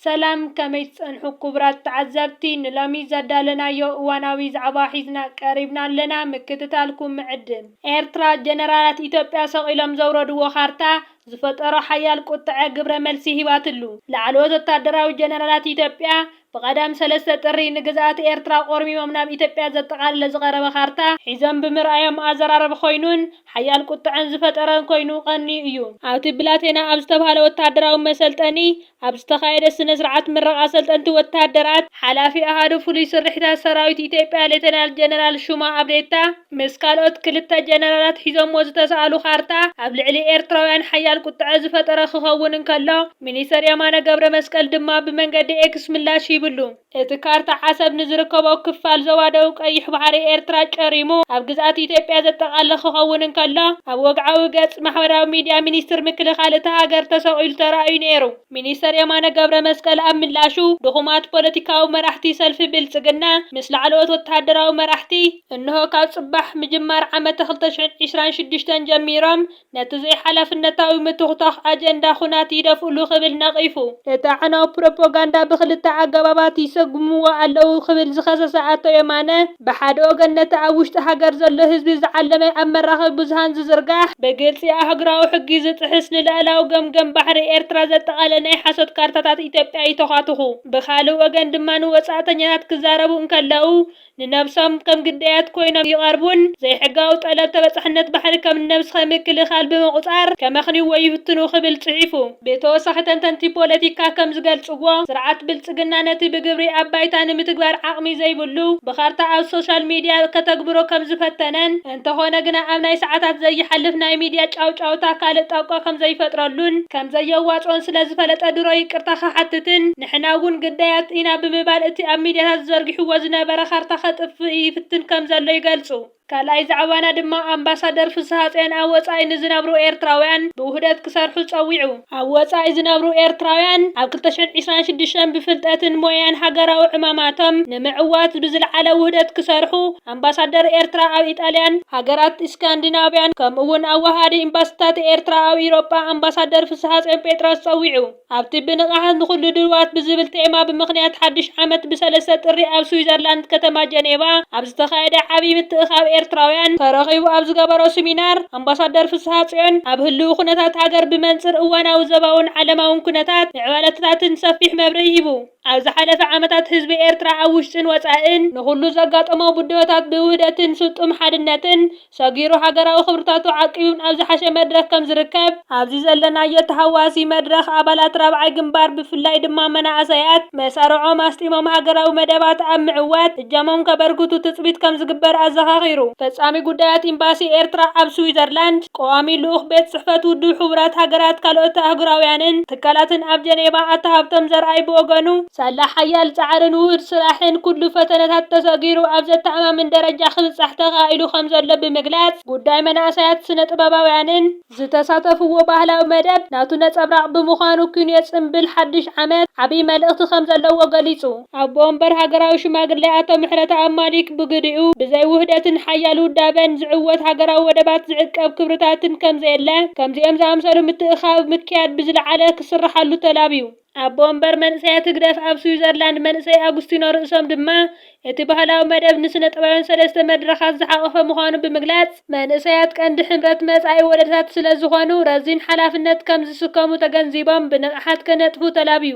ሰላም ከመይ ትጸንሑ ኩቡራት ተዓዘብቲ ንሎሚ ዘዳለናዮ እዋናዊ ዛዕባ ሒዝና ቀሪብና ኣለና ምክትታልኩም ምዕድም። ኤርትራ ጀነራላት ኢትዮጵያ ሰቂሎም ዘውረድዎ ካርታ ዝፈጠሮ ሓያል ቁጥዐ ግብረ መልሲ ሂባትሉ። ላዕለዎት ወታደራዊ ጀነራላት ኢትዮጵያ ብቀዳም ሰለስተ ጥሪ ንግዝኣት ኤርትራ ቆርሚሞም ናብ ኢትዮጵያ ዘጠቃለለ ዝቀረበ ካርታ ሒዞም ብምርኣዮም ኣዘራረቢ ኮይኑን ሓያል ቁጥዐን ዝፈጠረን ኮይኑ ቀንዩ እዩ። ኣብቲ ብላቴና ኣብ ዝተብሃለ ወታደራዊ መሰልጠኒ ኣብ ዝተኻየደ ስነ-ስርዓት ምረቓ ሰልጠንቲ ወተሃደራት፣ ሓላፊ ኣሃዱ ፍሉይ ስርሒታት ሰራዊት ኢትዮጵያ ሌተናል ጀነራል ሹማ ኣብዴታ ምስ ካልኦት ክልተ ጀነራላት ሒዞምዎ ዝተሰኣሉ ካርታ ኣብ ልዕሊ ኤርትራውያን ሓያል ቁጠዐ ዝፈጠረ ክኸውን እንከሎ ሚኒስተር የማነ ገብረመስቀል ድማ ብመንገዲ ኤክስ ምላሽ ሂብሉ። እቲ ካርታ ዓሰብ ንዝርከቦ ክፋል ዞባ ደቡብ ቀይሕ ባሕሪ ኤርትራ ጨሪሙ ኣብ ግዝኣት ኢትዮጵያ ዘጠቓልል ክኸውን እንከሎ፣ ኣብ ወግዓዊ ገጽ ማሕበራዊ ሚድያ ሚኒስትሪ ምክልኻል እታ ሃገር ተሰቒሉ ተራእዩ ነይሩ። ሚኒስተር የማነ ገብረመስቀል ኣብ ምላሹ፣ ድኹማት ፖለቲካዊ መራሕቲ ሰልፊ ብልጽግና ምስ ላዕለዎት ወተሃደራዊ መራሕቲ፣ እንሆ ካብ ጽባሕ፣ ምጅማር ዓመተ ክልተ ሽሕን ዕስራን ሽዱሽተን፣ ጀሚሮም፣ ነቲ ዘይሓላፍነታዊ ምትኹታኽ ኣጀንዳ ኹናት ይደፍእሉ ክብል ነቒፉ። ነቲ ኣዕናዊ ፕሮፖጋንዳ ብኽልተ ኣገባባት ይሰጉምዎ ኣለዉ ክብል ዝኸሰሰ ኣቶ የማነ፣ ብሓደ ወገን ነቲ ኣብ ውሽጢ ሃገር ዘሎ ህዝቢ ዝዓለመ ኣብ መራኸቢ ብዙሃን ዝዝርጋሕ፣ ብግልጺ ኣህጉራዊ ሕጊ ዝጥሕስ፣ ንልኣላዊ ገምገም ባሕሪ ኤርትራ ዘጠቓለለ ናይ ሓሶት ካርታታት ኢትዮጵያ ይተዃትኹ፣ ብኻልእ ወገን ድማ ንወጻእተኛታት ክዛረቡ እንከለዉ፣ ንነብሶም ከም ግዳያት ኮይኖም ይቐርቡን፣ ዘይሕጋዊ ጠለብ ተበጻሕነት ባሕሪ ከም ንነብስኻ ምክልኻል ብምቑጻር ከመኽንይዎ ይፍትኑ ክብል ጽሒፉ። ብተወሳኺ ተንተንቲ ፖለቲካ ከም ዝገልጽዎ፣ ስርዓት ብልጽግና ነቲ ብግብሪ ኣብ ባይታ ንምትግባር ዓቕሚ ዘይብሉ፣ ብካርታ ኣብ ሶሻል ሚድያ ከተግብሮ ከም ዝፈተነን፣ እንተኾነ ግና ኣብ ናይ ሰዓታት ዘይሓልፍ ናይ ሚድያ ጫውጫውታ ካልእ ጣቋ ከምዘይፈጥረሉን ከምዘየዋፅኦን ስለዝፈለጠ ድሮ ይቅርታ ክሓትትን ንሕና እውን ግዳያት ኢና ብምባል እቲ ኣብ ሚድያታት ዘርጊሕዎ ዝነበረ ካርታ ከጥፍእ ይፍትን ከምዘሎ ይገልፁ። ካልኣይ ዛዕባና ድማ ኣምባሳደር ፍስሃፅዮን ኣብ ወፃኢ ንዝነብሩ ኤርትራውያን ብውህደት ክሰርሑ ፀዊዑ። ኣብ ወጻኢ ዝነብሩ ኤርትራውያን ኣብ ክልተ ሽሕን ዕስራን ሽዱሽተን ብፍልጠትን ሞያን ሃገራዊ ዕማማቶም ንምዕዋት ብዝልዓለ ውህደት ክሰርሑ ኣምባሳደር ኤርትራ ኣብ ኢጣልያን ሃገራት እስካንዲናቭያን ከምኡ'ውን ኣወሃሃዲ ኤምባሲታት ኤርትራ ኣብ ኢሮጳ ኣምባሳደር ፍስሃጽዮን ጴጥሮስ ጸዊዑ። ኣብቲ ብንቕሓት ንኹሉ ድልዋት ብዝብል ቴማ ብምኽንያት ሓድሽ ዓመት ብ ሰለስተ ጥሪ ኣብ ስዊዘርላንድ ከተማ ጀኔቫ ኣብ ዝተኻየደ ዓቢ ምትእኽኻብ ኤርትራውያን ተረኺቡ ኣብ ዝገበሮ ስሚናር ኣምባሳደር ፍስሃጽዮን፣ ኣብ ህልዊ ኩነታት ሃገር ብመንጽር እዋናዊ ዘባውን ዓለማውን ኩነታት ምዕባለትታትን ሰፊሕ መብርሂ ሂቡ። ኣብ ዝሓለፈ ዓመታት ህዝቢ ኤርትራ ኣብ ውሽጥን ወጻእን ንኹሉ ዘጋጠሞ ብድሆታት ብውህደትን ስጡም ሓድነትን ሰጊሩ ሃገራዊ ክብርታቱ ዓቂቡን ኣብ ዝሓሸ መድረኽ ከም ዝርከብ፣ ኣብዚ ዘለናዮ ተሃዋሲ መድረኽ ኣባላት ራብዓይ ግንባር ብፍላይ ድማ መናእሰያት መሳርዖም ኣስጢሞም ሃገራዊ መደባት ኣብ ምዕዋት እጃሞም ከበርክቱ ትፅቢት ከምዝግበር ኣዘኻኺሩ። ፈፃሚ ጉዳያት ኤምባሲ ኤርትራ ኣብ ስዊዘርላንድ፣ ቀዋሚ ልኡኽ ቤት ፅሕፈት ውድብ ሕቡራት ሃገራት ካልኦት ኣህጉራውያንን ትካላትን ኣብ ጀኔቫ ኣቶ ሃብቶም ዘርኣይ ብወገኑ፣ ሳላ ሓያል ፃዕርን ውሁድ ስራሕን ኩሉ ፈተነታት ተሰጊሩ ኣብ ዘተኣማምን ደረጃ ክብፃሕ ተኻኢሉ ከምዘሎ ብምግላፅ፣ ጉዳይ መናእሰያት ስነ ጥበባውያንን፣ ዝተሳተፍዎ ባህላዊ መደብ ናቱ ነፀብራቕ ብምዃኑ ኪንዮ ፅምብል ሓዱሽ ዓመት ዓብይ መልእኽቲ ከምዘለዎ ገሊፁ። ኣቦ ወንበር ሃገራዊ ሽማግሌ ኣቶ ምሕረተኣብ ማሊክ ብግዲኡ፣ ብዘይ ውህደትን ሓያል ውዳበን ዝዕወት ሃገራዊ ወደባት ዝዕቀብ ክብርታትን ከምዘየለ፣ ከምዚኦም ዝኣምሰሉ ምትእኽኻብ ምክያድ ብዝለዓለ ክስርሓሉ ተላብዩ። ኣቦ ወንበር መንእሰያት ህግደፍ ኣብ ስዊዘርላንድ መንእሰይ ኣጉስቲኖ ርእሶም ድማ፣ እቲ ባህላዊ መደብ ንስነጥበባውያን ሰለስተ መድረኻት ዝሓቖፈ ምዃኑ ብምግላጽ፣ መንእሰያት ቀንዲ ሕብረት መጻኢ ወለዶታት ስለዝኾኑ ረዚን ሓላፍነት ከምዝስከሙ ተገንዚቦም ብንቕሓት ክነጥፉ ተላብዩ።